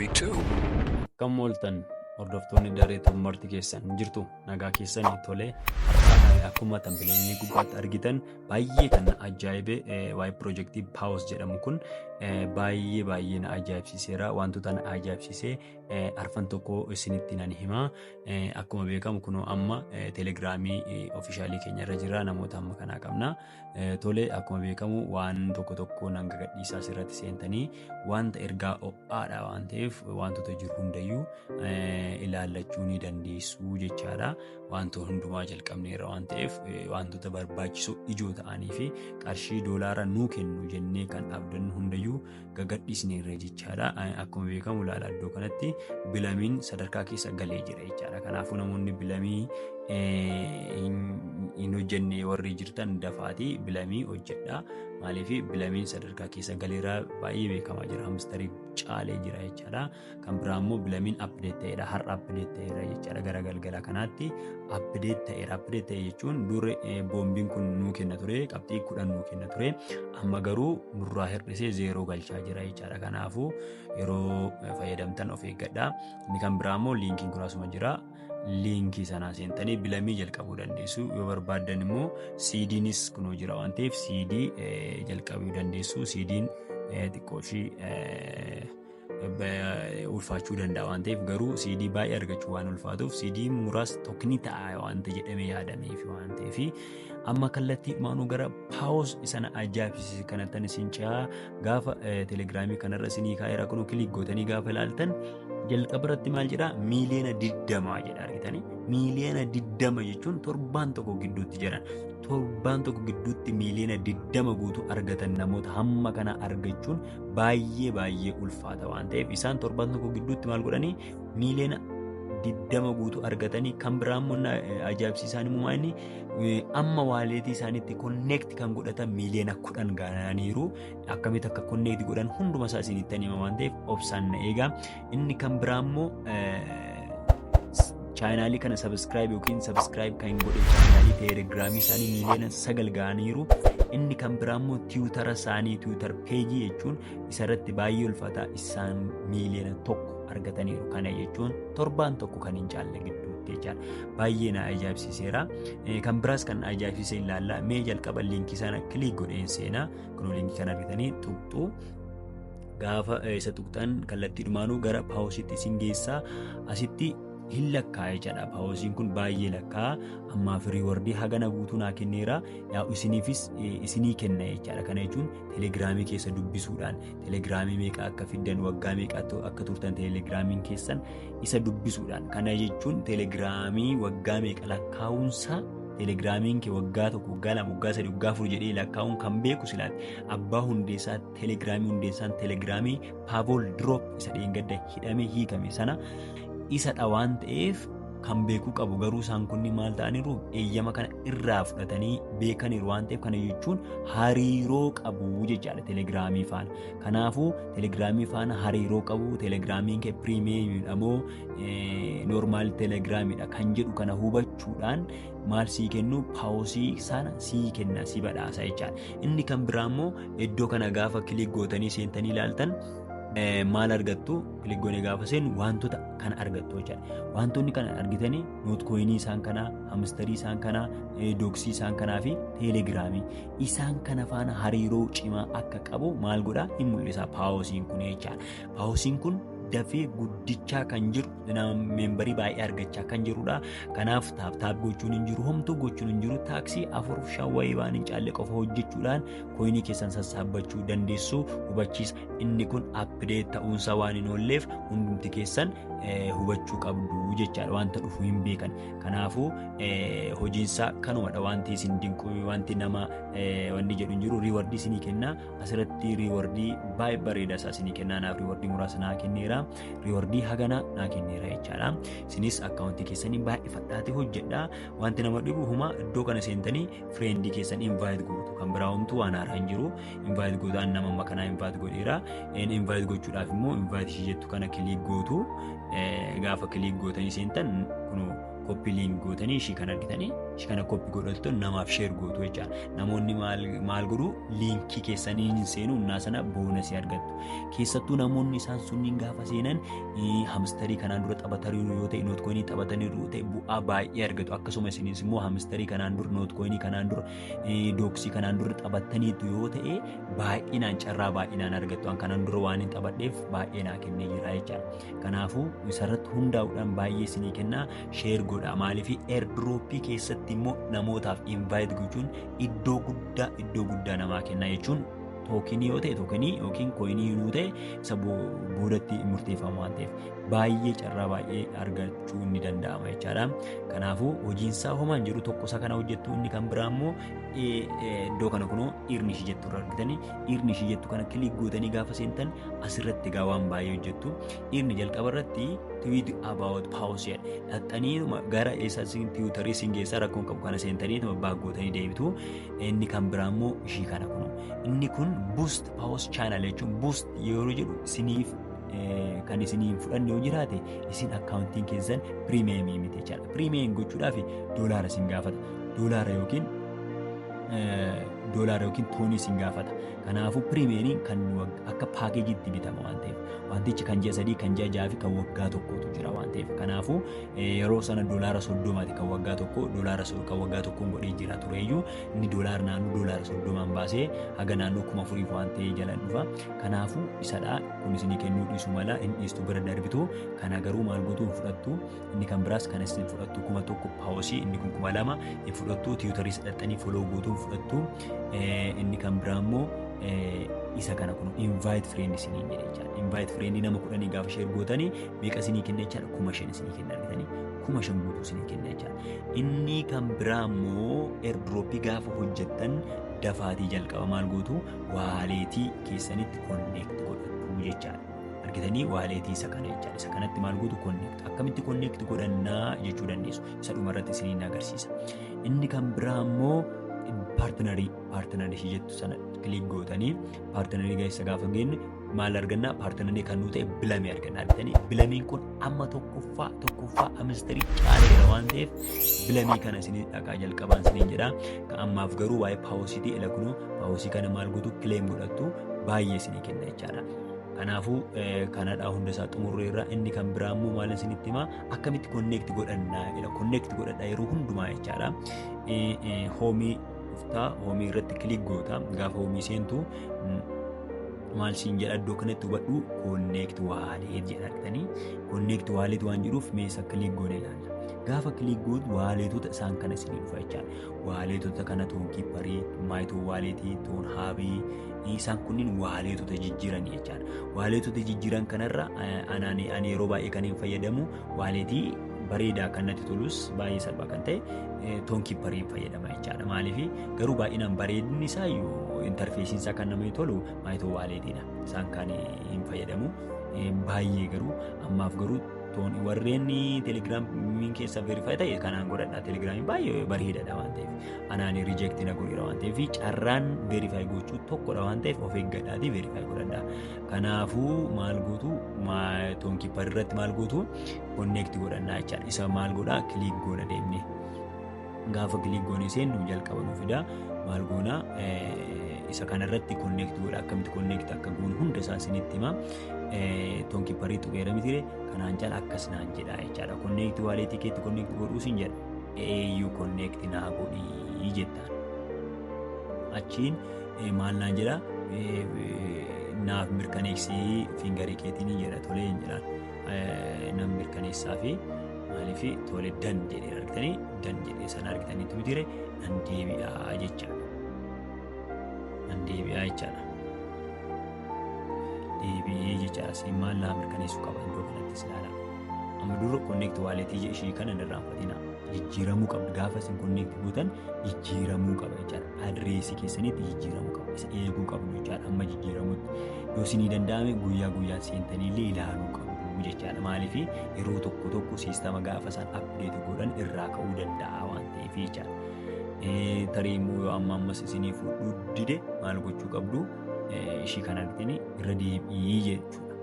Akkam ooltan hordoftoonni daree tummarti keessan hin jirtu nagaa keessanii tolee akkuma tambileelee gubbaatti argitan baay'ee kan na ajaa'ibe waa'ee piroojeektii paawus jedhamu kun baay'ee baay'ee na ajaa'ibsiiseera wantoota na ajaa'ibsiisee arfan tokko isinitti nan himaa. Akkuma beekamu kunoo amma telegiraamii ofiishaalii keenya irra jira namoota amma kanaa qabna. Tole akkuma beekamu waan tokko tokko nan gagadhiisaa asirratti seentanii wanta ergaa ho'aadha waan ta'eef wantoota jiru hundayyuu ilaallachuu ni dandeessu jechaadha. Wanta hundumaa jalqabneerra waan ta'eef wantoota barbaachisoo ijoo ta'anii fi qarshii doolaara nuu kennu jennee kan abdannu hundayyuu gagadhiisneerra jechaadha. Akkuma beekamu ilaala iddoo kanatti bilamiin sadarkaa keessa galee jira jechaadha. Kanaafuu namoonni bilamii hin hojjenne warri jirtan dafaatii bilamii hojjedha. Maaliif bilamiin sadarkaa keessa galeera baay'ee beekamaa jira. Hamstarii caalee jira jechaadha. kan biraa immoo bilamiin update ta'eera har'a update ta'eera jechaadha gara galgala kanaatti update ta'eera update ta'e jechuun dur boombiin kun nuu kenna ture qabxii kudhan nuu kenna ture amma garuu nurraa hir'isee zeeroo galchaa jira jechaadha kanaafuu yeroo fayyadamtan of eeggadha inni kan biraa immoo liinkiin kun asuma jira liinkii sanaa seentanii bilamii jalqabuu dandeessu yoo barbaaddan immoo siidiinis kunoo jira waan ta'eef siidii jalqabuu dandeessu siidiin xiqqoo ishii ulfaachuu danda'a waan ta'eef garuu CD baay'ee argachuu waan ulfaatuuf CD muraas tokko ni ta'a waan ta'e jedhamee yaadameef waan ta'eef amma kallattii maanuu gara paawus sana ajaa'ibsiise kanattan isin ce'aa gaafa telegiraamii kanarra isinii kaa'eera kunuu kiliik gootanii gaafa ilaaltan jalqaba irratti maal jedhaa miiliyoona digdamaa jedha argitanii miiliyoona digdama jechuun torbaan tokko gidduutti jedhan torbaan tokko gidduutti miiliyoona digdama guutuu argatan namoota hamma kana argachuun baay'ee baay'ee ulfaata waan ta'eef isaan torban tokko gidduutti maal godhanii miiliyoona diddama guutuu argatanii kan biraa immoo na- eh, ajaa'ibsiisaan immoo inni eh, amma waaleetii isaaniitti konneekti kan godhatan miiliyoona kudhan gaananiiru akkamitti akka konneekti godhan hunduma isaa isinitti hima waan ta'eef obsaan na eegaa Inni kan biraa immoo chaayinaalii kana sabiskiraayib yookiin sabiskiraayib kan godhe chaayinaalii teelegiraamii isaanii miiliyoona sagal ga'aniiru. Inni kan biraa immoo tiwutara isaanii tiwutar peejii jechuun isarratti baay'ee ulfaataa isaan miiliyoona tokko argataniiru. Kana jechuun torbaan tokko kan hin caalle gidduutti jechaadha. Baay'ee na ajaa'ibsiiseera. Kan biraas kan ajaa'ibsiise ilaalla. Mee jalqaba liinkii sana kiliik godheen seenaa. Kun liinkii kana argitanii tuqxu. gaafa isa tuqxan kallattiidhumaanuu gara paawusitti isin geessaa asitti hin lakkaa jechaadha paawusiin kun baay'ee lakkaa ammaa firii wardii hagana guutuu naa kenneera yaa isiniifis isinii kenna jechaadha kana jechuun telegiraamii keessa dubbisuudhaan telegiraamii meeqa akka fiddan waggaa meeqa akka turtan telegiraamiin keessan isa dubbisuudhaan kana jechuun telegiraamii waggaa meeqa lakkaa'uunsaa telegiraamiin kee waggaa tokko waggaa lama waggaa sadii waggaa afur jedhee lakkaa'uun kan beeku silaati abbaa hundeessaatti Telegiraamii hundeessaan telegiraamii Paavool Diroop isa dheengadda hidhamee hiikame sana isadha waan ta'eef kan beekuu qabu garuu isaan kunni maal ta'aniiru eeyyama kana irraa fudhatanii beekaniiru waan ta'eef kana jechuun hariiroo qabu jechaadha telegiraamii faana. Kanaafuu telegiraamii faana hariiroo qabu telegiraamiin kee piriimiyeemiidha moo noormaal telegiraamiidha kan jedhu kana hubachuudhaan maal sii kennu paawusii sana sii kenna si badhaasa jechaadha. Inni kan biraa immoo iddoo kana gaafa kilik gootanii seentanii ilaaltan maal argattu kilik goone gaafa seennu wantoota kana argattu jechaadha. Wantoonni kana argitanii nootkoyinii isaan kanaa, hamistarii isaan kanaa, dooksii isaan kanaa fi teelegiraamii isaan kana faana hariiroo cimaa akka qabu maal godhaa hin mul'isa paawusiin kun jechaadha. Haawusiin kun dafee guddichaa kan jiru meembarii baay'ee argachaa kan jirudha. Kanaaf taaptaap gochuun hin jiru homtuu gochuun hin jiru taaksii afur shan wayii waan hin caalle qofa hojjechuudhaan kooyinii keessan sassaabbachuu dandeessu hubachiisa. Inni kun appideet ta'uunsaa waan hin oolleef hundumti keessan hubachuu qabdu jechaadha wanta dhufu hin beekan. Kanaafuu hojiinsaa kanumadha wanti isin dinquu wanti nama wanni jedhu hin jiru riiwardii isinii kenna. asirratti riiwardii baay'ee bareedaa isaa isinii kennaa naaf riiwardii muraasa naa kenneera riiwardii hagana naa kenneera jechaadha isinis akkaawuntii keessanii baay'ifadhaati hojjedha wanti nama dhibu huma iddoo kana seentanii fireendii keessan invaayit gootu kan biraa homtuu waan haaraa hin jiru invaayit gootaan nama amma kanaa invaayit godheera invaayit gochuudhaaf immoo invaayit ishee jettu kana kiliik gootu gaafa kiliik gootanii seentan kunoo Koppi liink gootanii ishii kan argitanii ishii kana koppi godhattu namaaf sheer gootu jecha namoonni maal godhu liinkii keessanii hin seenu innaa sana boonasii argattu keessattuu namoonni isaan sunniin gaafa seenan hamistarii kanaan dura taphataniiru yoo ta'e nootkoinii taphataniiru yoo ta'e bu'aa baay'ee argatu akkasuma isinis immoo hamistarii kanaan dura nootkoinii kanaan dura dooksii kanaan dura taphataniitu yoo ta'e baay'inaan carraa baay'inaan argattu an kanaan dura waan hin taphadheef baay'ee naa kennee jira jecha Kanaafuu isarratti hundaa'uudhaan baay'ee isinii kennaa sheer godhaa maaliif eerdrooppii keessatti immoo namootaaf invaayit gochuun iddoo guddaa iddoo guddaa namaa kennaa jechuun tookinii yoo ta'e tookinii yookiin kooyinii yoo ta'e isa boodatti murteeffamu waan ta'eef baay'ee carraa baay'ee argachuu ni danda'ama jechaadha. Kanaafuu hojiinsaa homaan jiru tokkosa kana hojjettu inni kan biraa immoo iddoo kana kunoo irni ishii jettu irra argitanii dhiirni ishii jettu kana kiliik gootanii gaafa seentan asirratti egaa waan baay'ee hojjettu dhiirni jalqaba irratti tweet about pause dhaxxanii gara eessaa isin tiwutarii isin geessaa rakkoon qabu kana seentanii tuma baag gootanii deebitu inni kan biraa immoo ishii kana kun inni kun boost pause channel jechuun boost yeroo jedhu isiniif kan isiniin fudhanne yoo jiraate isin akkaawuntiin keessan piriimeemii miti jechaadha piriimeem gochuudhaaf doolaara isin gaafata doolaara yookiin doolaara yookiin toonii sin gaafata. Kanaafuu pirimeeriin kan akka paakeejiitti bitama waan ta'eef wantichi kan ji'a sadii kan ji'a ja'a fi kan waggaa tokkootu jira waan ta'eef kanaafuu yeroo sana doolaara soddomaati kan waggaa tokko doolaara kan waggaa tokkoon godhee jira tureeyyuu inni doolaara naannoo doolaara soddomaan baasee haga naannoo kuma afuriif waan ta'ee jalan dhufa kanaafuu isadha kunis ni kennuu dhiisu mala hin dhiistu bira darbitu kana garuu maal gootu hin fudhattu Inni kan biraas kan isin fudhattu kuma tokko paawosii inni kun kuma lama hin fudhattu tiwutarii sadhaxxanii foloo guutuu hin fudhattu inni kan biraa immoo isa kana kun invite friend isiniin jedhe jechaadha. Invite friend nama kudhanii gaafa sheer gootanii meeqa isinii kenna jechaadha kuma shan isinii kenna argitanii kuma shan guutuu isinii kenna jechaadha. Inni kan biraa immoo airdrop gaafa hojjettan dafaatii jalqaba maal gootu waaleetii keessanitti connect godhatu jechaadha. argitanii waaleetii isa kana jechaadha. Isa kanatti maal gootu connect akkamitti connect godhannaa jechuu dandeessu. Isa dhuma irratti isiniin agarsiisa. Inni kan biraa immoo paartinarii paartinarii ishee jettu sana kiliik gootanii paartinarii keessa gaafa geenye maal argannaa paartinarii kan nuu ta'e bilamii argannaa argitanii bilamiin kun amma tokkoffaa tokkoffaa amistarii caaleera waan ta'eef bilamii kana isinii dhaqaa jalqabaan isiniin jedha kan ammaaf garuu waa'ee paawositii ila kunuu paawosii kana maal gootu kileem godhattu baay'ee isinii kenna jechaadha. Kanaafuu kanadhaa hunda isaa xumurree irraa inni kan biraa immoo maal isinitti himaa akkamitti konneekti godhannaa jedha konneekti godhadha yeroo hundumaa jechaadha. Hoomii dhuftaa hoomii irratti kilik goota gaafa hoomii seentu maal siin jedha iddoo kanatti hubadhu konneekti waaleet jedhattanii konneekti waaleet waan jedhuuf meeshaa kilik goone ilaalla. Gaafa kilik gootu waaleetota isaan kana isinii dhufa jechaadha. Waaleetota kana toon kiipparii, maayitoo waaleetii, toon haabii isaan kunniin waaleetota jijjiiran jechaan. Waaleetota jijjiiran kanarra ani yeroo baay'ee kan hin fayyadamu waaleetii bareedaa kan natti tolus baay'ee salphaa kan ta'e toon kiippariin fayyadama jechaadha. Maaliif garuu baay'inaan bareedinni isaa iyyuu intarfeesiin isaa kan namatti tolu maayitoo waaleetiidha. Isaan kan hin fayyadamu baay'ee garuu ammaaf garuu Tooni warreen telegiraamiin keessa verifaayi ta'e kanaan godhadha telegiraamiin baay'ee bareedaadha waan ta'eef anaan rijeekti na godheera waan ta'eef carraan verifaayi gochuu tokkodha waan ta'eef of eeggadhaatii verifaayi godhadha kanaafuu maal gootu toonkiippar irratti maal gootu konneekti godhannaa jechaadha isa maal godhaa kiliik goona deemnee. Gaafa kiliik goonee seennu jalqaba nu fida maal goona isa kanarratti konneekti godha akkamitti konneekti akka goonu hunda isaa isinitti hima toonkiipparii tuqeera mitire kanaan cala akkas naan jedha jechaadha konneekti waaleetii keetti konneekti godhuu sin jedha eeyyuu konneekti naa godhii jettaan achiin maal naan jedha naaf mirkaneessii fiingarii keetiin jedha tolee hin jedhaan. Nan mirkaneessaa fi maaliif tole dan jedhee argitanii dan jedhee sana argitanii tu jire nan deebi'aa jechaadha. Nan deebi'aa jechaadha. Deebi'ee jechaadha. Siin maal naa mirkaneessuu qaba iddoo kanattis ilaala. Amma dura konneekti waaleetii ishii kana hin irraanfatina. Jijjiiramuu qabdi. Gaafa isin konneekti gootan jijjiiramuu qaba jechaadha. adireesii keessanitti jijjiiramu qabu isa eeguu qabdu jechaadha amma jijjiiramutti yoo isinii danda'ame guyyaa guyyaan seentanii illee ilaaluu qabdu jechaadha maaliif yeroo tokko tokko siistama gaafa isaan apdeeti godhan irraa ka'uu danda'a waan ta'eef jechaadha. Eh, tarii immoo yoo amma ammas isinii fuudhuu dide maal gochuu qabdu Eh, ishii kanarratti irra deebi'ii jechuudha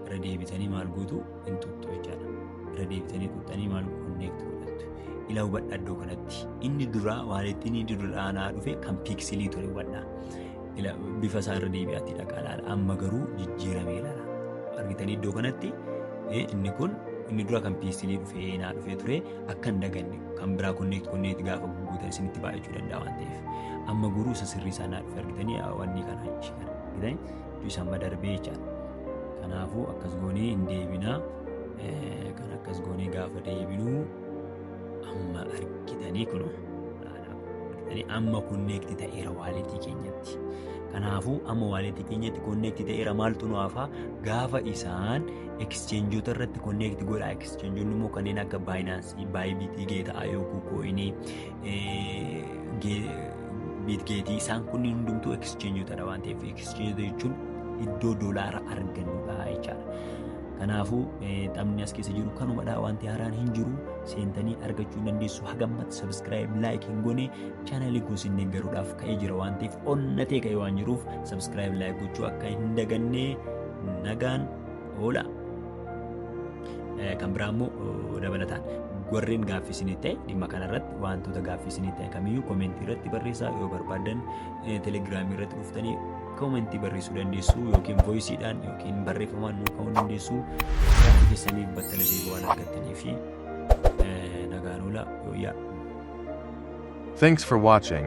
irra deebitanii maal gootu hin tuqxu jechaadha. Irra deebitanii tuqxanii maal konneekti godhattu. Ila hubadha iddoo kanatti. Inni duraa waalittiin inni duraa naa dhufe kan piiksilii ture hubadha. Ila bifa isaa irra deebi'aatti dhaqaa laala. Amma garuu jijjiiramee laala. Argitanii iddoo kanatti eh, inni kun inni dura kan piiksilii dhufee naa dhufee ture akka hin daganne kan biraa konneekti konneekti gaafa gurguutan isinitti baay'achuu danda'a waan ta'eef. Amma garuu isa sirrii isaa naa dhufe argitanii wanni kana ishee kana argitanii isa amma darbee jechaadha. Kanaafuu akkas goonee hin deebinaa. Kan akkas goonee gaafa deebinuu amma argitanii kun argitanii amma konneekti ta'eera waaleetii keenyatti. Kanaafuu amma waaleetii keenyatti konneekti ta'eera maaltu nu hafaa gaafa isaan ekscheenjoota irratti konneekti godhaa ekscheenjoonni immoo kanneen akka baayinaansii baayibitii geeta'aa yookiin kooyinii Biitgeetii isaan kunniin hundumtuu ekscheenjootadha waan ta'eef ekscheenjoota jechuun iddoo doolaara argannudha jechaadha. Kanaafuu taphni as keessa jiru kanumadha wanti haaraan hin jiru seentanii argachuu hin dandeessu hagammatti sabiskiraayib laayik hin goone chaanalii gosi hin deeggaruudhaaf ka'ee jira waan ta'eef onnatee ka'ee waan jiruuf sabiskiraayib laayik gochuu akka hin daganne nagaan oola. Kan biraa immoo dabalataan warreen gaaffii isinii ta'e dhimma kanarratti wantoota gaaffii isinii ta'e kamiyyuu koomentii irratti barreessaa yoo barbaadan telegiraamii irratti dhuftanii koomentii barreessuu dandeessu yookiin voisiidhaan yookiin barreeffamaan nuu ka'uu dandeessu gaaffii keessaniif battala deebii waan argattanii fi nagaan oola yooyyaa. Thanks for watching.